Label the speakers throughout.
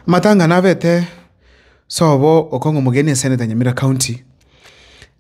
Speaker 1: Amatang'ana abete sobo okong'a omogeni esenete ya Nyamira County,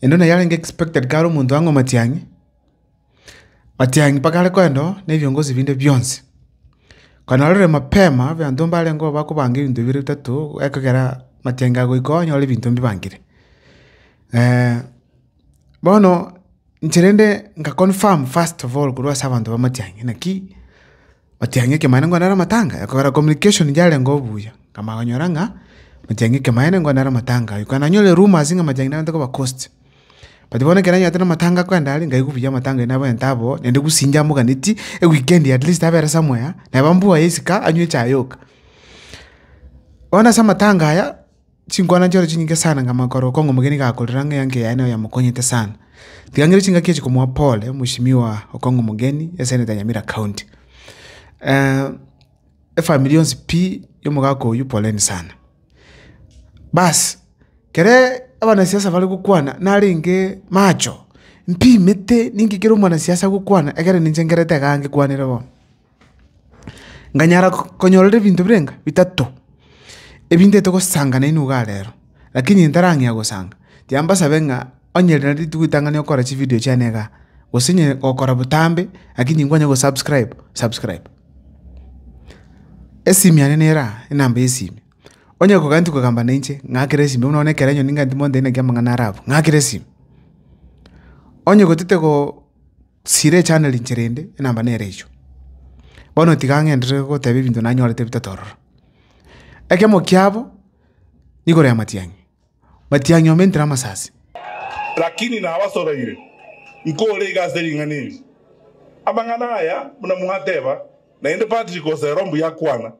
Speaker 1: ende buna yarenge expected kare omonto ang'we matiang'i, matiang'i mpaka are koenda oo ne biongozi binde bionsi. Okonyora rore mapema abanto mbarenge oo bakobanga ebinto bibere bitato ekogera matiang'i agoika oo onyore ebinto mbibangire. bono inche rende nka confirm first of all korwa ase abanto ba matiang'i naki. Matiang'i ekero maene nkonera amatanga, ekogera communication yarenge obuya. Nkamanya konyora ng'a matiang'i ekero maene nkonera amatanga ayio. Korende nanyore rumours ng'a matiang'i nabente koba cost. But bono ekero nanyarete na amatanga akoenda aria, nkaigwa buya amatanga ayio nabwente abwo, naende gose inche amoganeti, eweekend at least abere somewhere, neba mbwoye isiko anywe echae yoka. Bono ase amatanga aya. Chinkwana nchiore chinyinge sana ng'a makorokwa ng'a omogeni gakorera ng'a eanke yaye nero yamokonyete sana. Tiga ng'ire chingaki echi komoa pole, omosimigwa okong'a omogeni esenete ya Nyamira County. efamiri yonsi pi y'omogaka oyio poleni sana. Basi, kere abanasiasa bare gokwana narenge macho, mpimete ninki kere omwanasiasa agokwana ekero ninche nkerete igaa ngekwanere bono. Nkanyara konyorera ebinto birenga? Bitato. Ebintete gosanga naende nigo iga rero, lakini ntarang'ea gosanga, tiga mbasabe ng'a onye rende rituko ritang'ani okore chividio chiane igaa, gose onye gokora botambe lakini nkwanye gosubscribe, subscribe. Esimi yane nero aa, enamba ya esimi, onye kogani tikogamba nainche, ng'akere esimi, buna bono ekero onye ning'anti monto aina ki amang'ana arabu, ng'akere esimi. Onye gotete go. Sira echanda rinche rende, enamba nere eyio. Bono tiga ng'enderere gogoteba ebinto nanyorete bitato ororo. Ekemo kiabo nigoro ya matiang'i, matiang'i omentire amasasi. Lakini
Speaker 2: nabasobeire, nkore iga ase ring'ana eri. Amang'ana aya buna mwateba, naende Patrick Osero mbuyakwana.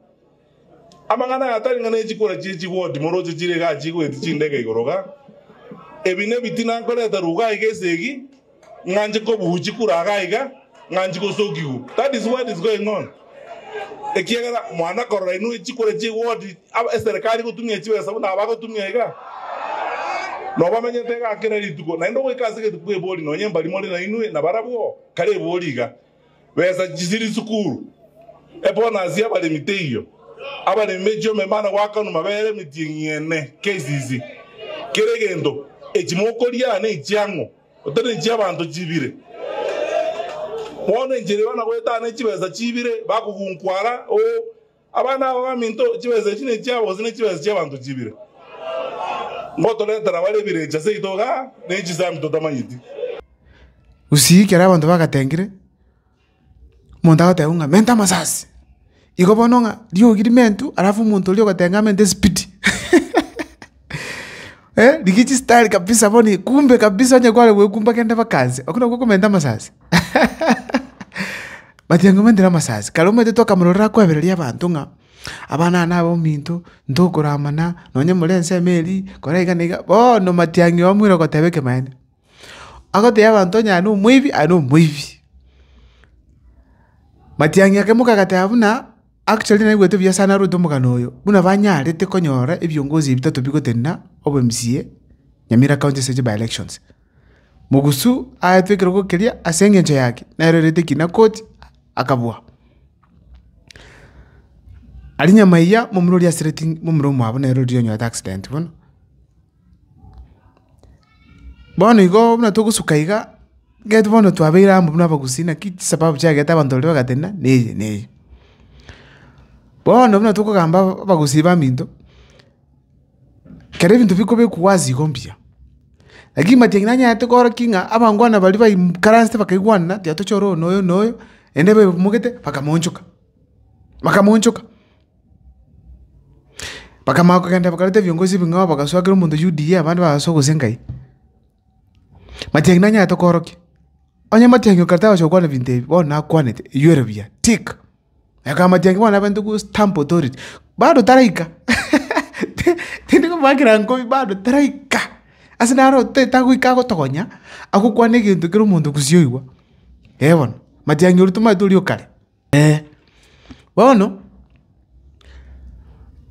Speaker 2: Amang'ana aya tari ng'a nechikura chie chigoti moroche chire igaa chigoeti chindege igoro igaa. Ebi nebi tinankoreta ruga iga esegi, ng'a nche kobuu chikura igaa iga, ng'a nchi gosokigwu. That is what is going on. Ekiagera mwana korora inwe echikura chiegoti aba eserekari gotumia chibesa buna aba gotumia igaa. Nobamenyete igaa kera rituko naende ogoika ase egetuko ebori nonye mbari more nainwe nabarabwo kare ebori igaa. Besa chisiri sukuru. Ebonasi y'abaremi teiyo. Abaremi bechia omemano goakanwa mabeere emetieng'i ene KCC. Kera egento, echi mokoria ne echiang'o, otari ne chi'abanto chibire. Bono enchera eba na goetana ne chibesa chibire bakogunkwa ara, oo, Abana aba baminto, chibesa echi nechiabo gose nechibesa chi'abanto chibire? Ngotoretera bare ebirecha seito iga, ne chisaami totamanyeti.
Speaker 1: Gusii ekero abanto bagatengire, omonto agoteba ng'a menta amasasi, igo bono ng'a riogi rimentu, alafu omonto oria ogotenga amente esipidi. rigichi style kabisa bono ikumbe kabisa onye kware gwekumba kende bakanse, okwo nokwo okomenta amasasi but anga omentire amasasi. Kare omanyete twakamorora akoebereria abanto ng'a abana nabo ominto, ntokoramana, nonye more ensemo erii, kora iga na iga, bono matiang'i omoire ogoteba ekemanyeto. Agotebia abanto onye aye na omoibi, aye na omoibi. Matiang'i akaimoka agateba buna. Actually naigwete buya sana aruete omogano oyo buna banyarete konyora ebiongozi ebi bitato bigotenena obo mca Nyamira county ase chi by elections. Mugusu aetwe ekerogo keria ase engencho yaki nero erete ekina koti akabua. Ari nyamaiya momura oria asireti momura omwabo nero riria onyorete accident bono. Bono igoo buna togosuka igaa, gete bono twabeire amo buna abagusii naki chisababu chiagete abanto baria bagatenena na eye na eye. Bono buna tokogamba abagusii baminto, kero ebinto bikobekwa ase igo mbuya, lakini matiang'i nanyarete kora ki ng'a abangwana baria baimkaranste bakaigwanana tiga tochore oyo na oyo na oyo, naende babe bamomogete bakamoonchoka, bakamoonchoka. Bakamanya kogenda bakareta ebiongozi ebing'ao bagasoa kera omonto Yudea, abande bagasoa gose Engai. Matiang'i nanyarete koorokia. Onye Matiang'i oka torosia gokwana ebinto ebi, bono nakwanete, eywo ere buya, tick. Aye kaba Matiang'i bono abente ko stamp authority. Bado taraika, tindi komoakera nkobi bado taraika. Ase naro te tagoika agotogonya, agokwana egento kera omonto gusii oigwa. Eeh bono, Matiang'i oria tomanyete oria o kare. Ee, bono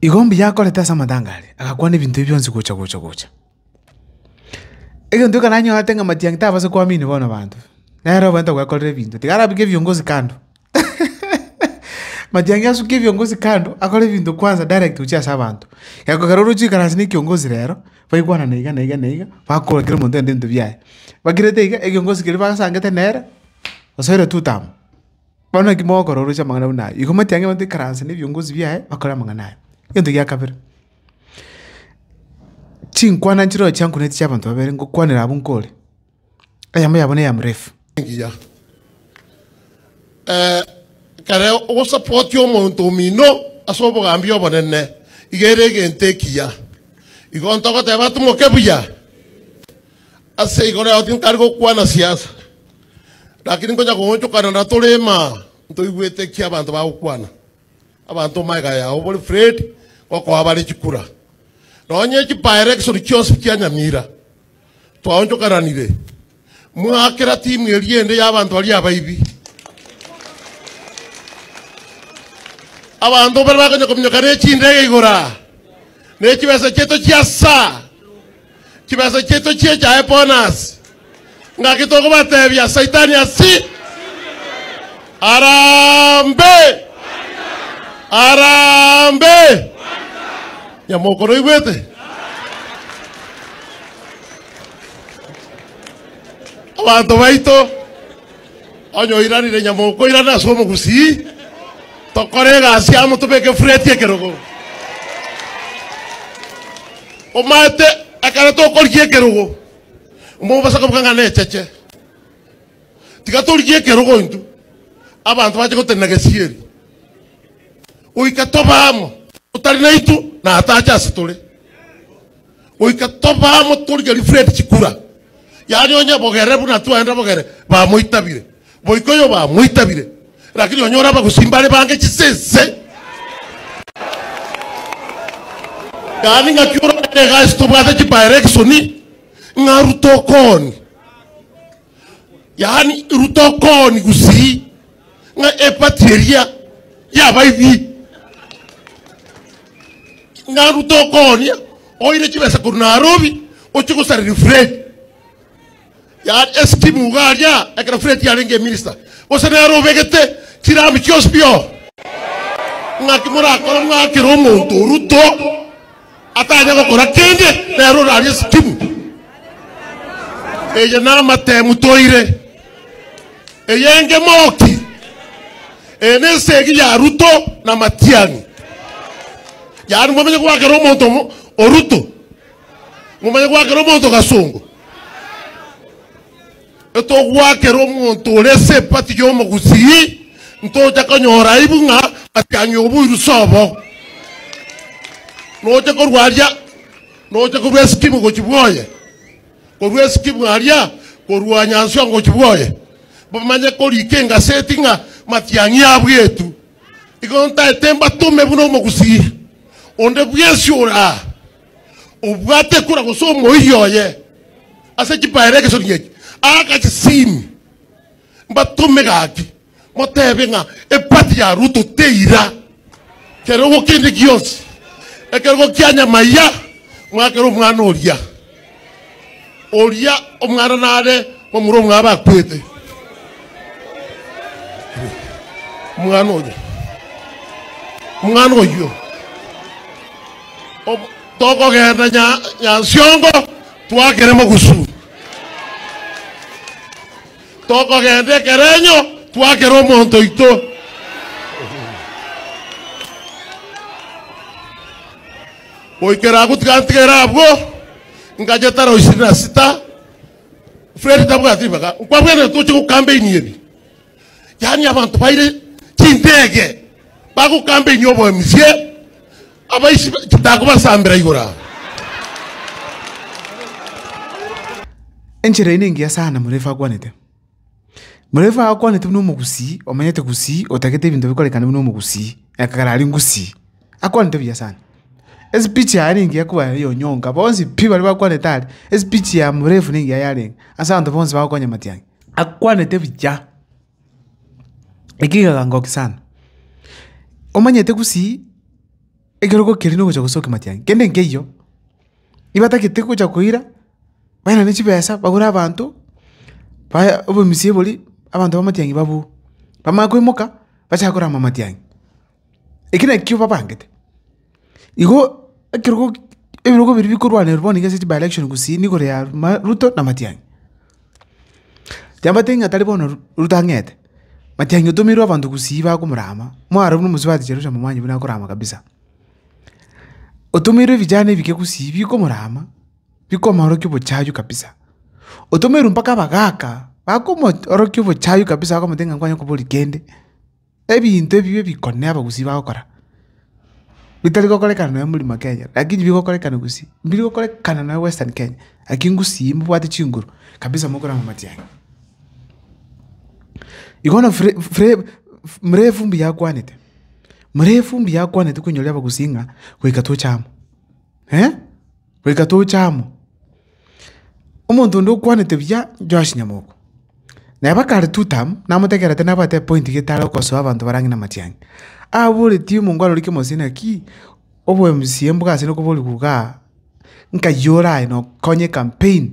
Speaker 1: igo mbuya akorete ase amatanga aria, agakwana ebinto ebio bionsi gocha gocha gocha. Egento ekananyorete ng'a matiang'i tabasa koamini bono abanto, nere obwenerete gwekorera ebinto, tiga arabeke ebiongozi kando matiang'i asuke ebiongozi kando akore ebinto kwanza direct gochia ase abanto. Aya ekero oroche goikara ase na ekiongozi rero, baikwana na iga na iga na iga, bakoa kera omonto egento gento biaye. Bakirete iga, ekiongozi keria basangete nere, osoire two term. Bono naki mogokorosia amang'ana buna aya? Igo motiange abanto ikaranse na ebiongozi biaye bakore amang'ana aya. Egento gia kabere, chinkwana nchireo chiankuneti chia abanto babere ngokwanera abwo nkore, eyemo yabo neya mrefu. Engiya.
Speaker 3: Ekero ogosapotia omonto omino ase obogambi obonene, iga ere egento ekiya. Igo ntogoteba atomoke buya. Ase igoro yao tinkare gokwana siasa. Lakini nkonya koonchokana na torema, ntoigwete eki abanto bagokwana. Abanto magega yao bori Fred gokoa bare chikura. Nonye chipaere egesori chionsi chianyamira. Twaonchokananire. Mwakera timu eria ende y'abanto baria abaibi. Abanto mbare bakonya kominyokana echindege igora, ne chibesa chieto chiasa. Chibesa chiaito chi'echaye bono ase. Ngaki tokobatebia Saitani ase arambe! Arambe! Onye mokoroigwete, abanto baito. Onye oiranire nyama okoirana ase omogusii, tokore egasi amo tobeke fureti ekerogo. Omanyete ekero tokorigia ekerogo, omobasa kobuga ng'a necheche. Tiga torigie ekerogo intwe, abanto bache gotenena gesieri, goika tobe amo, otari naintwe na atache ase tore. goika tobe amo torigerie Fred chikura yaani onye bogere buna twaenda bogere bamoitabire boika oyo bamoitabire lakini onyore abagusi mbare bange chisese yaani ng'aki orogere egasi tobwate chibaerekisoni ng'aru tokoni yaani ruta okooni gusii ng'a epati eria yabaibi ng'a ruta okoonia oire chibesa korwa narobi oche gosareria fred yaani esikimu iga aria ekero fred yarenge eminista gose nere obegete chirami chionsi bio ng'aki morakore mwakere omonto oruto Atanya gokora kende, nere orarie sikimu. Eye namatemu toire. Eye engemoki. Eye nesegi ya Ruto na Matiang'i. Yaani mwamanya gwakera omonto omo- oruto. Momanye gwakera omonto gasongo. Netogoakera omonto ore esepati y'omogusii, ntocha konyora aibu ng'a atiang'e oboiru sobo. Nocha korwa aria, nocha korwa esikimu gochia bwoye, korwa esikimu aria korwa nyanswa ngochia bwoye, bamanye korika engaseti ng'a matiang'i abwo etu. Igo ntaete mbatome buna omogusii onde bwensi ore aa. obwate ekura gose omoiri oye ase chipaero egesonio eki agachisini mbatome gaki motebe ng'a epati ya Ruto teira kerogo kende gionsi ekerogo kia nyamaiya mwakera omwana oria oria omwana nare omura omwabo akwete. Omwana oyo. Omwana oyo. Om- Tokogenda nya- Nyansiongo twakere mogusu. Tokogenda ekerenyo twakere omonto oito. Goikera agwo tigantigera abwo, ingacha etara isiri na sita. Fred tabwati ribaga, nkwabwate toche gokambeinia ebi. Yaani abanto baire chindege bagokambeinia oboemisie, abaishi ba- chitako basambera igoro aa.
Speaker 1: Enchera eye nengiya sana morefu akwanete. Morefu agakwanete buna omogusii omenyete gusii, otagete ebinto bikorekane buna omogusii, ekagera aria ngusii. Akwanete buya sana. Espeech yaye nigo engiya koba eyonyonka, bonsi pi baria bakwanete aria, espeech ya Morefu nigo engiya yarenge, ase abanto bonsi bagokonya matiang'i. Akwanete buya, ekio kegaka ngokia sana. Omanyete gusii, ekero ogokiria nogocha gosokia matiang'i, kende nkeiyo. nibatagete gocha koira, bairane chibesa bagore abanto, baye obomusie boria, abanto b'amatiang'i babue. Bamanye koimoka, bachake korama amatiang'i. Eki nakio babangete. Igo ekerogo ebirogo biria bikorwanerwa bono iga ase chibaelection gusii nigoro ya ma ruto na matiang'i. Chambaete ng'a tari bono ruto ang'ete, matiang'i otomeirwe abanto gusii bakomorama, mwarorwa na omosubati Jerusalem mwanyigwa nakorama kabisa. Otomeirwe ebijana ebike gusii bikomorama, bikomorokia obochayu kabisa. Otomeirwe mpaka abagaka, bakomo orokia obochayu kabisa bakomotebia ng'a nkwanye koboria kende, ebinto ebibe bikone abagusii bagokora, bitari gokorekana nonya muri mount Kenya, lakini bigokorekana gusii, mbiri gokorekana nonya western Kenya, lakini gusii mbobwate chinguru kabisa mokorama amatiang'i. Igo bono fre fre mrefu mbuya akwanete, Muna efumbi yakwanetwe koinyoria abagusii ng'a goika toche amo. Goika toche amo. Omonto onde okwanete buya Joash Nyamoko. Na eba kare two term, namotegerete nabwate epointi gete are okosoa abanto bare ang'e na amatiang'i. Aboretie omonto aroro kemosio naki, obo MCA mbogasire nokoboriwa igaa, nkayio oraye nokonye campaign.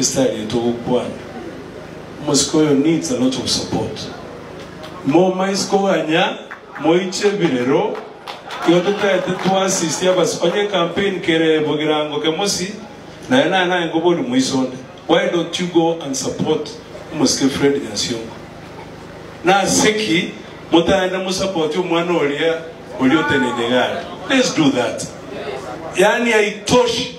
Speaker 4: estariete ogokwana omosike oyo needs a lot of support momaisi koganya moiche birero igo totaete to assist abasike onye campaign kerebo gerango kemosi naye naye naye nkobori moiso onde why don't you go and support omosike Fred Nyasiongo naseki motaende mo support omwana oria oria oteneine igare let's do that yaani haitoshi.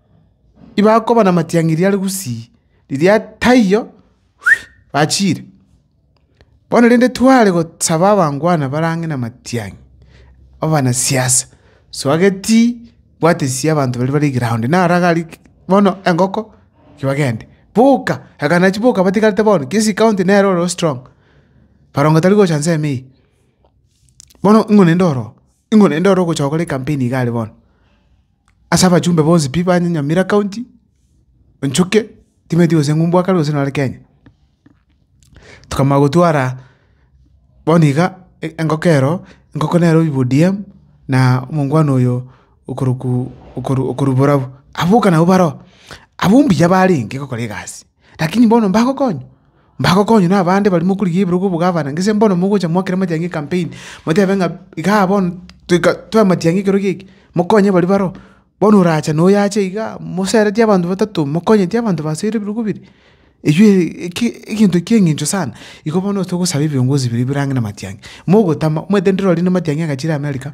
Speaker 1: ibakoba namatiang'e riare gusii, riria taiyo bachiire. Bono rende tware gosaba abangwana bare ang'e namatiang'e, abanasiasa, swageti bwatesia abanto baria bare eground naro agari bono engoko ki bagende. Boka, ekanachi boka batigarete bono, Kisii county nere oro strong, barongo tari gocha ensemo eye. Bono ing'o naende oroo? Ing'o naende oro ogocha gokora ecampaign iga are bono? Ase abachumbe bonsi pi ba Nyamira County, onchoke, timanyeti gose ng'umbu akare gose nore Kenya. Tokamanya gotwara bono iga e- engoko ero, engoko nere obi b'ODM, na omongwana oyo okorokwa okoru okorwa borabu. Aboka nabo baro, abwo mbuya barenge gokora egasi. Lakini bono mbagokonywa? Mbagokonywa nabande baria mokorigia ebirogo obogavana? Gese bono mogocha moakere amatiang'i ecampaign, motebe ng'a igaa bono toika toe amatiang'i ekero gieki, mokonye baria bareo. Bono orache na oyo ache igaa, moseretie abanto batato, mokonyeti abanto basoire ebirogo biria? Eywo eki egento ekia eng'encho sana. Igo bono togosaba ebiongozi biria birange na amatiang'i, mogotama omanyete ndire ore na amatiang'i agachire America.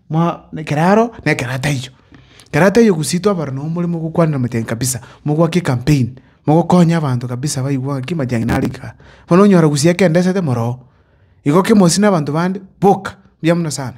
Speaker 1: Mwa, ekero aro, na ekero ataiyo. Ekero ataiyo gose intwe abare na omoremo ogokwanera amachang'ani kabisa, mogoake ecampaign, mogokonya abanto kabisa baigwe ng'aki amachang'ani naro aike aa. Bono onyora gose ekendesete moro oo, igo kemosie na abanto bande, boka, mbuya mono sana.